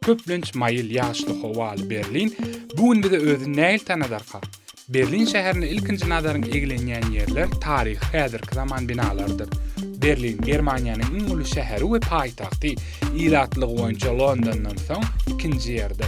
Köplenç maýyl ýagyşly howaly Berlin bu gün bize özüni nähili tanadarka? Berlin şäherine ilkinji nazaryň eglenýän ýerler taryhy häzirki zaman binalarydyr. Berlin Germaniýanyň iň uly şäheri we paýtagty, ilatlygy boýunça Londandan soň ikinji ýerde.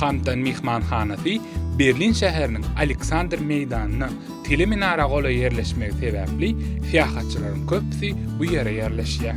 Hampton myhmanhanasy Berlin şäheriniň Aleksandr meýdanyna tele minara golaý ýerleşmegi sebäpli syýahatçylaryň köpüsi bu ýere ýerleşýär.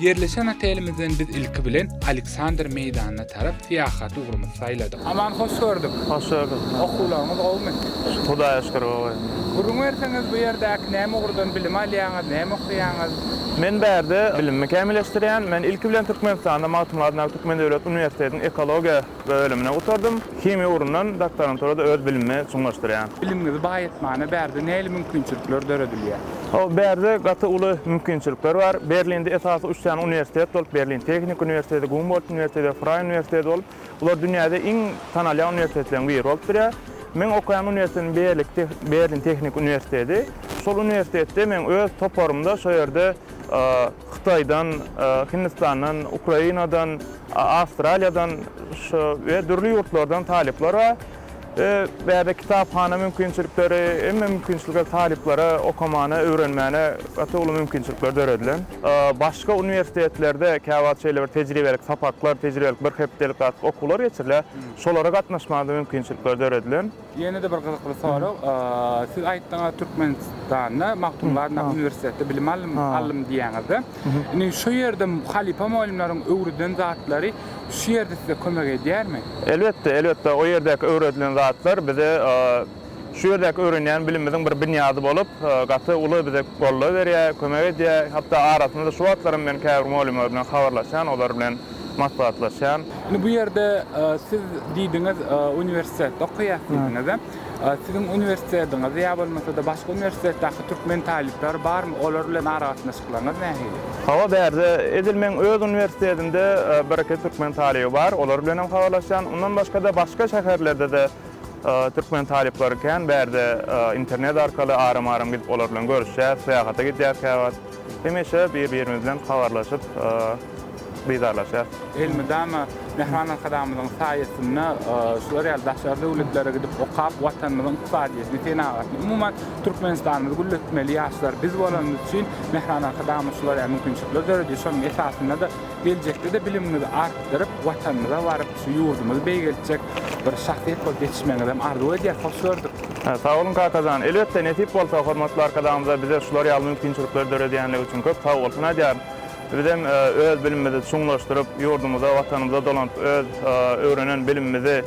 Ýerleşen otelimizden biz ilki bilen Aleksandr meýdanyna tarap syýahaty ugrumyzy saýladyk. Aman hoş gördük. Hoş gördük. Okuwlaryňyz gowumy? Hudaýa şükür gowy. Gürrüň berseňiz bu ýerdäki näme ugurdan bilim alýaňyz, näme okaýaňyz? Men bärde bilimimi kämilleşdirýän. Men ilki bilen Türkmenistanda Magtymguly adyndaky Türkmen döwlet uniwersitetiniň ekologiýa Bölümini gutardym. Himiýa ugrundan doktoranturada öz bilimimi çuňlaşdyrýan. Bilimiňizi baý etmäne bärde näli mümkinçilikler döredilýär? Hawa, bärde gaty uly mümkinçilikler bar. Berlinde esasy üç sany uniwersitet bolup, Berlin Tehniki uniwersiteti, Gumbolt uniwersiteti we Fraý uniwersiteti bolup, bular dünýäde iň tanalýan uniwersitetleriň biri bolup durýar. Meň okaýan uniwersitetim Berlik te Berlin Tehniki uniwersiteti. Şol uniwersitetde meň öz toparymda şo ýerde Hytaýdan, Hindistandan, Ukrainadan, Awstraliýadan şu we dürli ýurtlardan talyplar bar. We bärde kitaphana mümkinçilikleri, hemme mümkinçilikler talyplara okamana, öwrenmäne gaty uly mümkinçilikler döredilen. Başga uniwersitetlerde käwagt şeýle bir tejribelik sapaklar, tejribelik bir hepdelik zat okuwlar geçirilýär. Şolara gatnaşmaga-da mümkinçilikler döredilen. Ýene-de bir gyzykly sorag. Siz aýtdyňyz, Türkmenistanda Magtymguly adyndaky uniwersitetde bilim aldym diýýäňiz-de. Indi şu ýerde halypa mugallymlaryň öwreden zatlary şu ýerde size kömek edýärmi? Elbetde, elbetde. O ýerdäki öwredilen zatlar bize şu ýerdäki öwrenýän bilimimiziň bir binýady bolup, gaty uly bize goldaw berýär, kömek edýär. Hatda arasynda şu wagtlaram men käbir mugallymlar bilen habarlaşýan, olar bilen. maslahatlaşýan. Indi bu ýerde siz diýdiňiz, uniwersitetde okaýas diýdiňiz. Siziň uniwersitetiňizde ýa bolmasa-da başga uniwersitetdäki türkmen talyplary barmy? Olar bilen aragatnaşyklaryňyz nähili? Hawa, bärde edil meň öz uniwersitetimde birki türkmen talyby bar. Olar bilen hem habarlaşýan. Ondan başga-da başga şäherlerde-de türkmen talyplary kän. Bärde internet arkaly aram-aram gidip olar bilen görüşýäs. Syýahata gidýäs käwagt. Hemişe bir-birimiz bilen habarlaşyp, didarlaşýarys. Elmydama Mähriban Arkadagymyzyň saýasynda şular ýaly daşary döwletlere gidip okap, Watanymyzyň ykdysadyýetini, senagatyny, umuman, Türkmenistanymyzy gülletmeli ýaşlar biz bolanymyz üçin Mähriban Arkadagymyz şular ýaly mümkinçilikler döredýär. Şonuň esasynda-da geljekde-de bilimiňizi artdyryp, Watanymyza baryp, Şu ýurdumyzy beýgeltjek bir şahsyýet bolup ýetişmegiňizem arzuw edýäs. Hoş gördük. Sag boluň Kakajan. Elbetde, nesip bolsa, hormatly Arkadagymyza bize şular ýaly mümkinçilikleri döredýänligi üçin köp sag bolsun aýdýaryn. Bizem öz bilimimizi çuňlaşdyryp, ýurdumyza, Watanymyza dolanyp, öz öwrenen bilimimizi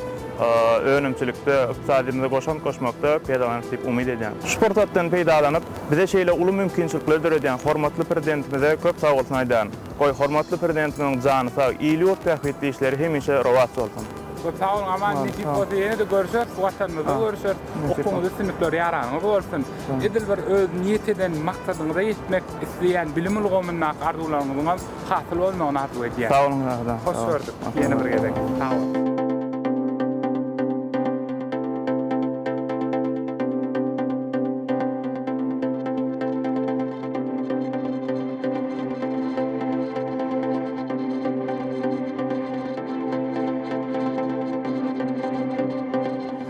önümçilikde, ykdysadyýetimize goşant goşmakda peýdalanarys diýip umyt edýän. Şu pursatdan peýdalanyp, bize şeýle uly mümkinçilikleri döredýän hormatly Prezidentimize köp sag bolsun aýdýaryn. Goý, hormatly Prezidentimiziň jany sag, il-ýurt bähbitli işleri hemişe rowaç bolsun! Köp sag boluň, aman, nesip bolsa ýene-de görüşeris, bu Watanymyzda görüşeris. Okuwyňyzda üstünlikler ýaranyňyz bolsun. Edil bir öz niýet eden maksadyňyza ýetmek isleýän bilim ulgamyndaky arzuwlaryňyzyňam hasyl bolmagyny arzuw edýän. Sag boluň, Rahydam. Hoş gördük ýene bir gezek. Sag boluň.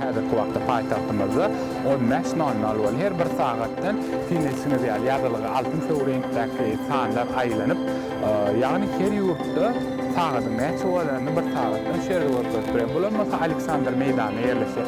Häzirki wagtda paýtagtymyzda on bäş nol nol we her bir sagatdan siňeşiňiz ýaly ýazylgy altyn söw reňkdäki sanlar aýlanyp, ýagny her ýurtda sagadyň näçe bolanyny bir sagatdan şu ýerde görkezip biler. Bular bolsa Aleksandr meýdanda ýerleşýär.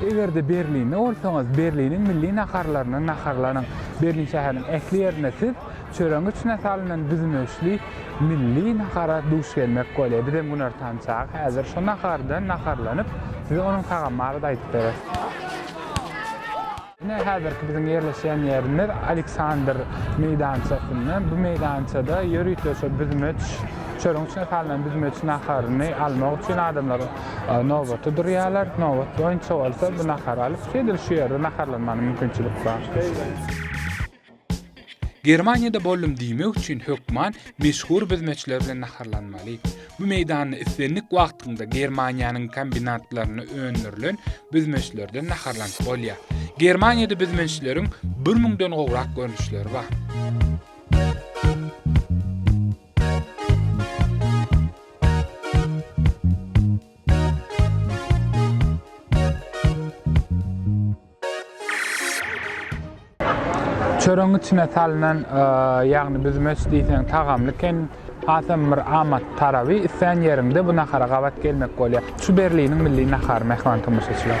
Eger-de Berlinde bolsaňyz, Berliniň milli naharlaryny naharlanyň. Berlin şäheriniň ähli ýerinde siz çöregiň içine salynan büzmeçli milli nahara duş gelmek bolýar. Biz hem günortan çagy häzir şo nahardan naharlanyp, size onuň tagamy barada aýdyp bereris. Ine, häzirki biziň ýerleşýän ýerimiz Aleksandr meýdançasynda. Bu meýdançada ýörite şu büzmeç, çölüň içine salnan büzmeç naharyny almak üçin adamlar nobata durýarlar. Nobat boýunça bolsa bu nahary alyp, şeýdip şu ýerde naharlanmagyna mümkinçilik bar. Germaniýada boldum diýmek üçin hökman meşhur büzmeçler bilen naharlanmaly. Bu meýdanda islendik wagtyňda Germaniýanyň kombinatlarynda öndürilen büzmeçlerden naharlanyp bolýar. Germaniýada büzmeçleriň bir müňden gowrak görnüşleri bar. Thank you. Çöregiň içine salynan, ýagny büzmeç diýseň tagamly eken. Hasam bir amatly taraby, islän ýeriňde bu nahara gabat gelmek bolýar. Şu Berliniň milli nahary, mähriban tomaşaçylar.